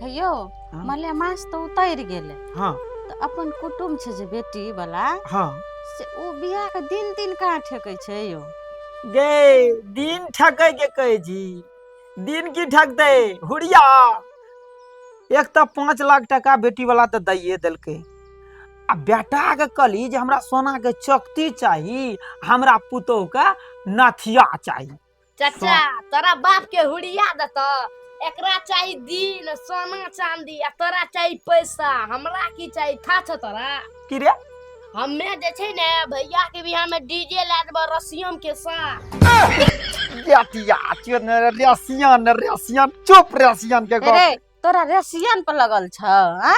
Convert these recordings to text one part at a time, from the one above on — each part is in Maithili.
हे यौ हाँ। मलेमास तऽ उतरि गेलै हाँ तऽ अपन कुटुम छै जे बेटी वाला हाँ से ओ बियाह के दिन दिन कहाँ ठेकै छै यौ गे दिन ठकै के कहै छी दिन की ठकतै हुरिया एक तऽ पाँच लाख टका बेटी वाला तऽ दैये देलकै आ बेटा के कहली जे हमरा सोना के चौकती चाही हमरा पुतोह के नथिया चाही चाचा तोरा बाप के हुड़िया देत एकरा चाही दिन सोना चांदी आ तोरा चाही पैसा हमरा की चाही था छ तोरा की रे हमे जे छै ने भैया के बियाह में डीजे ला देबो रसियम के साथ जातिया चोर ने रसियन रसियन चुप रसियन के गप रे तोरा रसियन पर लगल छ हैं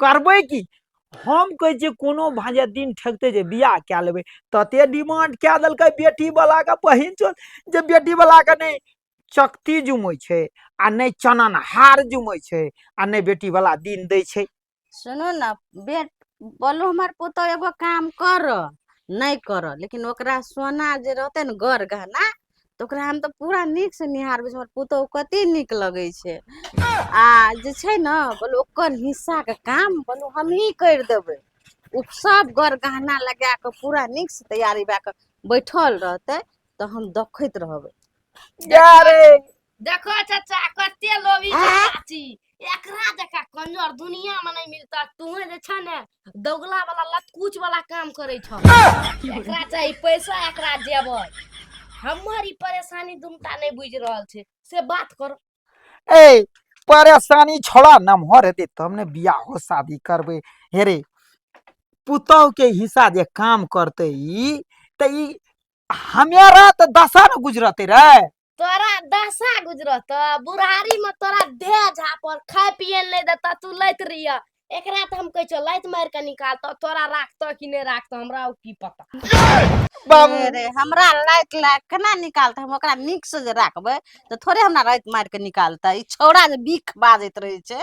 करबै की हम कहै छियै कोनो भा जे दिन ठेकतै जे बियाह कए लेबै तते डिमांड कए देलकै बेटी बलाके बहिन चोद जे बेटी बलाके नहि चकती जुमै छै आ नहि चनन हार जुमै छै आ नहि बेटी बला दिन दै छै सुनू ने बेट बोलू हमर पुतहु एगो काम कर नहि कर लेकिन ओकरा सोना जे रहतै ने गर गहना तऽ ओकरा हम तऽ पूरा नीकसँ निहारबै हमर पुतहु कतेक नीक लगै छै आ जे छै ने बोल ओकर हिस्साके काम बोल हमहीँ करि देबै ओ सभ गर गहना लगा कऽ पूरा नीकसँ तैयारी भए कऽ बैठल रहतै तऽ हम देखैत रहबै देखो चाचा कते लोभी के चाची एकरा जका कंजर दुनिया में नहीं मिलता तुहे जे छ ने दोगला वाला लतकुच वाला काम करे छ एकरा चाही पैसा एकरा देबै हमर ई परेशानी दुमटा नहीं बुझ रहल छै से बात कर ए परेशानी छोड़ा नमहर हेतै तब ने बियाहो शादी करबै हे रे पुतहु के हिस्सा जे काम करतै ई तऽ ई हमारा तो दशा न गुजरते रहे तोरा दशा गुजरत बुढ़ारी में तोरा दे झापर खाए पिए नहीं देता तू लैत रहिया एकरा तो हम कह छो लैत मार के निकाल तो तोरा राखतो कि नहीं राखतो हमरा उ की पता बाबू अरे हमरा लाइट लाइट केना निकालते हम ओकरा नीक से जे राखबै तऽ थोड़े हमरा राति मारि कऽ निकालतै ई छौड़ा जे बीख बाजैत रहै छै